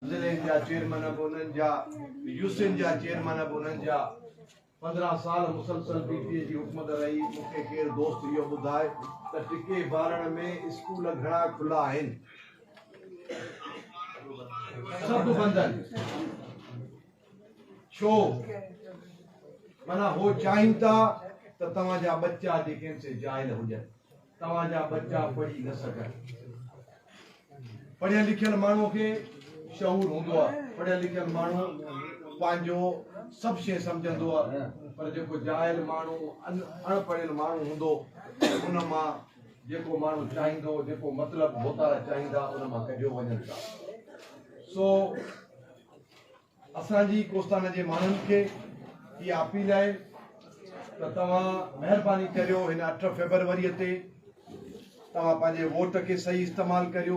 ضلعن جا چيئرمين به انهن جا، يو سين جا چيئرمين به انهن جا، پندرهن سال مسلسل پي ٽي اي جي حڪومت رهي، مون کي ڪير دوست اهو ٻڌائي ته ٽڪي بارڻ ۾ اسڪول گهڻا کلا آهن؟ سڀ بند آهن ڇو؟ معنيٰ هو چاهين ٿا ته توهان جا ٻچا جيڪي آهن سي جاهل هجن. توهان جا ٻچا پڙهي نه سگهن. پڙهيل لکيل ماڻهوء کي شعور هوندو آهي. پڙهيل لکيل ماڻهو پنهنجو سڀ شيء سمجهندو آهي. پر جيڪو جاهل ماڻهو، اڻ پڙهيل ماڻهو هوندو، ان مان جيڪو ماڻهو چاهيندو، جيڪو مطلب هوتارا چاهيندا، ان مان ڪڍيو وڃن ٿا. سو. اسان جي ڪوستانه جي ماڻهن کي اها اپيل آهي ته توهان مهرباني ڪريو هن اٺ فيبروري تي توهان پنهنجي ووٽ کي صحيح استعمال ڪريو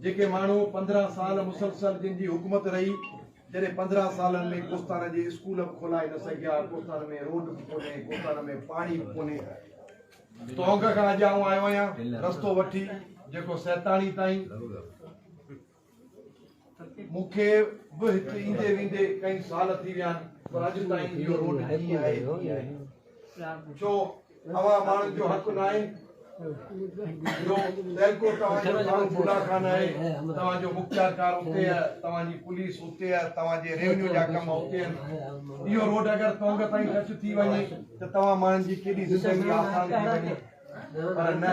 جيڪي ماڻهو پندرهن سال مسلسل جن جي حڪومت رهي جڏهن پندرهن سالن ۾ ڪوستانه جي اسڪول به کولائي نه سگهيا ڪوستانه ۾ روڊ به ڪونهي ڪوستانه ۾ پاڻي به ڪونهي ٽونگ کان اڄ آئون آيو آهيان رستو وٺي جيڪو سيتاڻي تائين مون کي به هت ايندي ويندي ڪئين سال ٿي ويا آهن پر اڄ تائين اهو روڊ ڪيئن آهي ڪيئن آهي ڇو اوهان ماڻهن جو حق ناهي جو تيلڪو توهان جو ڪارو بولا خان آهي توهان جو مختيار ڪار اتي آهي توهان جي پوليس اتي آهي توهان جي ريونيو جا ڪم اتي آهن اهو روڊ اگر تونگ تائين ٽچ ٿي وڃي ته توهان ماڻهن جي ڪيڏي زندگي آسان ٿي وڃي پر نه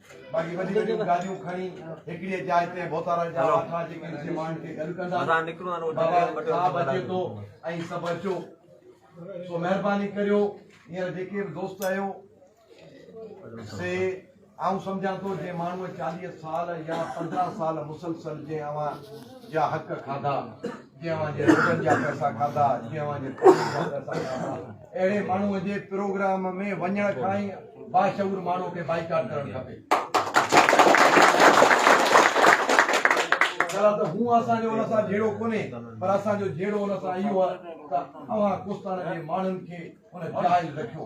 باقي وڏيون وڏيون گاڏيون کڻي هڪڙيء جاء تي بوتارن جا واٺا جيڪي ان جي ماڻهن کي گڏ ڪندا مزا نڪرو آن وٽا بابا وٽا صاحب وٽا اچي ٿو ۽ سڀ اچو سو مهرباني ڪريو هينئر جيڪي به دوست آهيو سي آئون سمجهان ٿو جنهن ماڻهوء چاليهه سال يا پندرهن سال مسلسل جنهن اوهان جا حق کاڌا جنهن اوهان جي روڊن جا پئسا کاڌا، جنهن اوهان جي پاڻي جا پئسا کاڌا، اهڙي ماڻهوء جي پروگرام ۾ وڃڻ کان ئي باشعور ماڻهوء کي بائيڪاٽ ڪرڻ کپي. ڀلا ته هو اسان جو ان سان جهيڙو ڪونهي پر اسان جو جهيڙو ان سان اهو آهي ته اوهان ڪوستاڻا جي ماڻهن کي ان جاهل رکيو.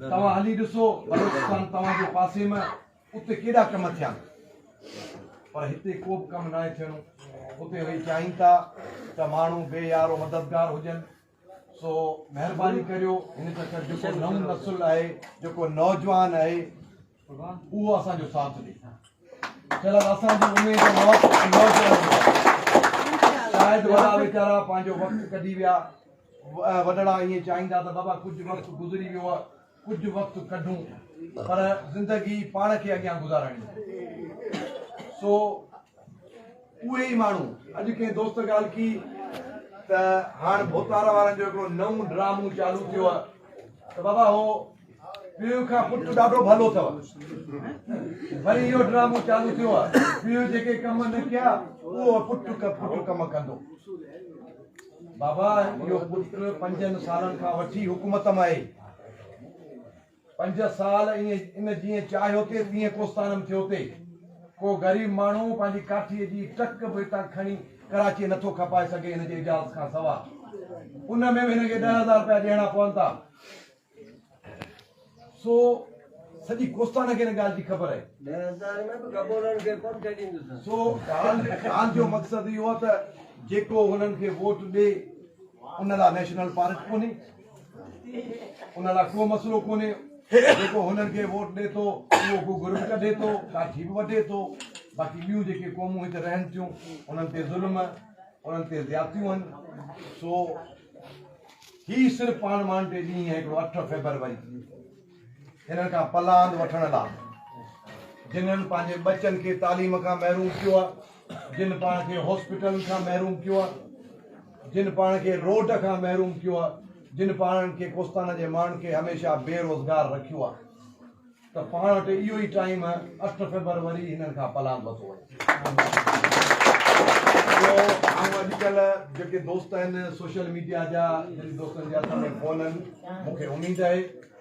توهان هلي ڏسو بلوچستان توهان جي پاسي ۾ اتي ڪيڏا ڪم ٿيا پر هتي ڪو به ڪم ناهي ٿيڻو اتي وئي چاهين ٿا ته ماڻهو بي يارو مددگار هجن سو مهرباني ڪريو هن چڪر جيڪو نئون نسل آهي جيڪو نوجوان آهي اهو اسان جو ساٿ ڏئي چل اسان جي اميد موت شايد وڏا ويچارا پنهنجو وقت ڪڍي ويا وڏڙا ائين چاهيندا ته بابا ڪجهه وقت گذري ويو آهي ڪجهه وقت ڪڍون پر زندگي پاڻ کي اڳيان گذارڻي سو اهي ئي ماڻهو اڄ ڪنهن دوست ڳالهه ڪي ته هاڻ ڀوتار وارن جو هڪڙو نئون ڊرامو چالو ٿيو آهي ته بابا هو پيء کان پٽ ڏاڍو ڀلو اٿو وري اهو ڊرامو چالو ٿيو آهي پيء جيڪي ڪم نه ڪيا اهو پٽ پٽ ڪم ڪندو بابا اهو پٽ پنجن سالن کان وٺي حڪومت ۾ آهي پنج سال ان جيئن چاهيو ٿي تيئن ڪوستان ۾ ٿيو ٿي ڪو غريب ماڻهو پنهنجي ڪاٺي جي ٽڪ به هتان کڻي ڪراچي نٿو کپائي سگهي هن جي اجازت کان سواء ان ۾ به هن کي ڏهه هزار روپيا ڏيڻا پون ٿا سو سڄي ڪوستانا کي ان ڳالهه جي خبر آهي. سو ڳالهه جو مقصد اهو آهي ته جيڪو هنن کي ووٽ ڏي ان لاء نيشنل پارڪ ڪونهي، ان لاء ڪو مسئلو ڪونهي، جيڪو هنن کي ووٽ ڏي ٿو اهو ڪو گرم ڪڍي ٿو، ڪاٺي به وڍي ٿو، باقي ٻيون جيڪي قومون هت رهن ٿيون انهن تي ظلم، انهن تي زيادتيون آهن، سو هي صرف پاڻ مان ٽي ڏينهن ۽ هڪڙو اٺ فيبروري هنن کان پلاند وٺڻ لا جنن پنهنجي ٻچن کي تعليم کان محروم ڪيو آهي جن پاڻ کي هاسپيٽلن کان محروم ڪيو آهي جن پاڻ کي روڊ کان محروم ڪيو آهي جن پاڻ کي ڪوستان جي ماڻهن کي هميشه بي روزگار رکيو آهي ته پاڻ وٽ اهو ئي ٽائيم اٺ فيبر وري هنن کان پلاند وتو وڃي. ٻيو آئون اڄ ڪلهه جيڪي دوست آهن سوشل ميڊيا جا جن دوستن جي هٿ ۾ فون آهن مون کي اميد آهي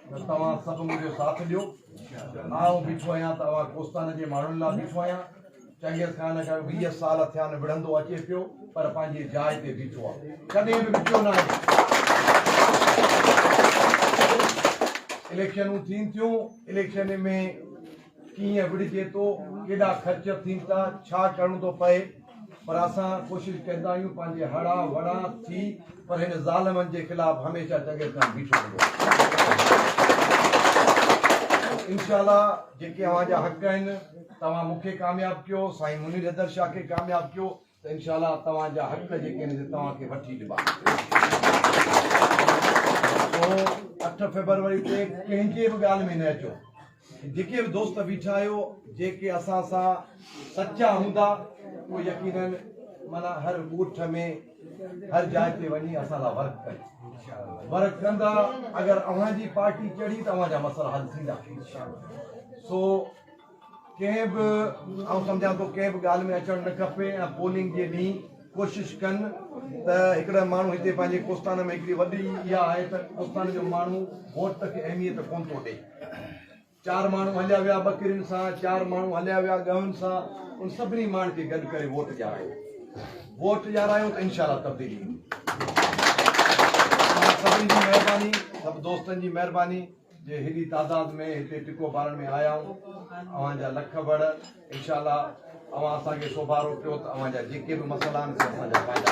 ته توهان سڀ منهنجو ساٿ ڏيو آئون بيٺو آهيان ته اوهان ڪوستان جي ماڻهن لا بيٺو آهيان. چنگيز خان کي ويهه سال ٿيا آهن وڙهندو اچي پيو پر پنهنجي جاء تي بيٺو آهي ڪڏهن به وڪيو ناهي اليڪشنون ٿين ٿيون اليڪشن ۾ ڪيئن وڙهجي ٿو ڪيڏا خرچ ٿين ٿا ڇا ڪرڻو ٿو پئي پر اسان ڪوشش ڪندا آهيون پنهنجي هڙا وڙا ٿي پر هن ظالمن جي خلاف هميشه چنگيز خان بيٺو هوندو انشاءالله جيڪي اوهان جا حق آهن توهان مون کي ڪامياب ڪيو سائين منير حيدر شاهه کي ڪامياب ڪيو ته انشاء الله توهان جا حق جيڪي آهن توهان کي وٺي ڏبا اٺ فيبروري تي ڪنهن جي به ڳالهه ۾ نه اچو جيڪي به دوست بيٺا آهيو جيڪي اسان سان سچا هوندا اهو يقينن مانا هر ڳوٺ ۾ هر جاء تي وڃي اسان لاء ورڪ ڪن ورڪ ڪندا اگر اوهان جي پارٽي چڙهي ته اوهان جا مسئلا حل ٿيندا سو ڪنهن به آئون سمجهان ٿو ڪنهن به ڳالهه ۾ اچڻ نه کپي ۽ پولنگ جي ڏينهن ڪوشش ڪن ته هڪڙا ماڻهو هتي پنهنجي ڪوستان ۾ هڪڙي وڏي اها آهي ته ڪوستان جو ماڻهو ووٽ کي اهميت ڪون ٿو ڏي چار ماڻهو هليا ويا ٻڪرين سان چار ماڻهو هليا ويا ڳهن سان ان سڀني ماڻهن کي گڏ ڪري ووٽ ڄارايو ووٽ ڄارايو ته انشاء الله تبديلي ايندي سڀني جي مهرباني سڀ دوستن جي مهرباني جي هيڏي تعداد ۾ هتي ٽڪو ٻارڻ ۾ آيا آهيون اوهان جا لک بڙ انشاء الله اوهان اسان کي سوڀارو ڪيو ته اوهان جا جيڪي به مسئلا آهن سي اسان جا فائدا